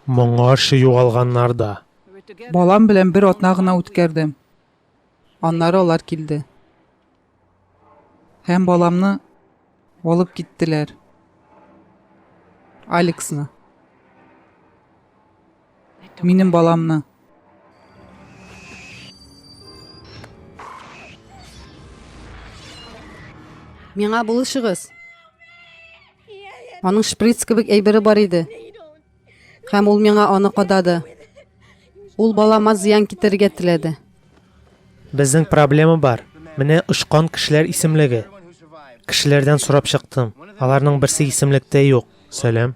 Моңарчы югалганнар да. Балам белән бер атна гына үткәрдем. Аннары алар килде. Һәм баламны алып киттеләр. Алексны. Минем баламны. Миңа булышыгыз. Аның шприц кебек әйбере бар иде. Һәм ул миңа аны кадады. Ул балама зыян китерергә теләде. Безнең проблема бар. Менә очкан кешеләр исемлеге. Кешеләрдән сорап чыктым. Аларның берсе исемлектә юк. Сәлам.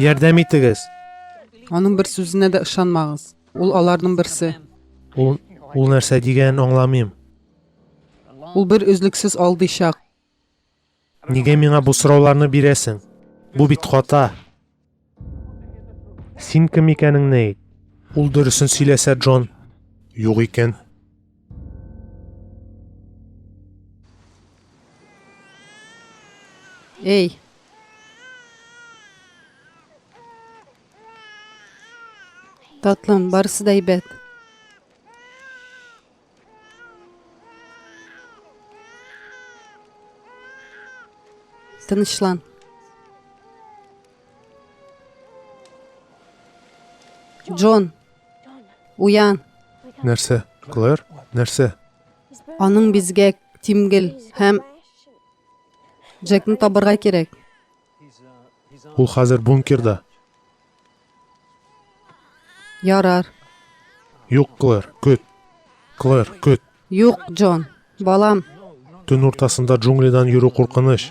Ярдәм итегез. Аның бер сүзенә дә ышанмагыз. Ул аларның берсе. Ул, ул нәрсә дигәнен аңламыйм. Ул бер өзлексез алдыйчак. Нигә миңа бу сорауларны бирәсең? Бу бит хата. Син кем икәнеңне әйт. Ул дөресен сөйләсә, Джон. Юк икән. Эй! Татлым, барысы да әйбәт. Тынычлан. Джон. Уян. Нәрсә? Клэр, нәрсә? Аның бизгәк, тимгел һәм Джекны табырга кирәк. Ул хәзер бункерда. Ярар. Юк, Клэр, көт. Клэр, көт. Юк, Джон, балам. Төн уртасында джунглидан йөрү куркыныч.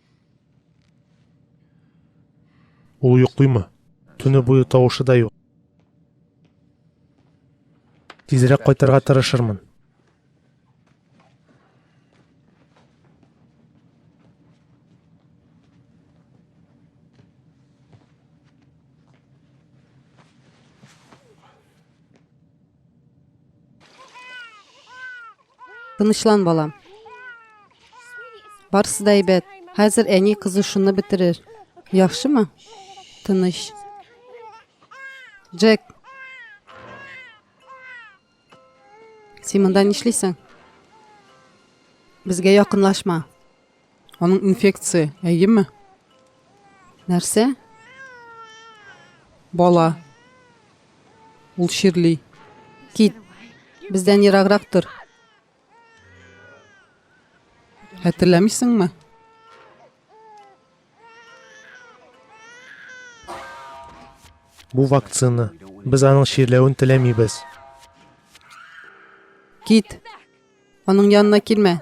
Ул йоклыймы? Төне буе тавышы да юк. Тизрәк кайтырга тырышырмын. Тынычлан, балам. Барысы да әйбәт. Хәзер әни кызы шуны бетерер. Яхшымы? Тыныч. Джек. Син монда нишлисең? Безгә якынлашма. Аның инфекция, әйеме? Нәрсә? Бала. Ул чирли. Кит. Бездән ераграк тор. Хәтерләмисеңме? Бу вакцина. Без аның чирләвен теләмибез. Кит. Аның янына килмә.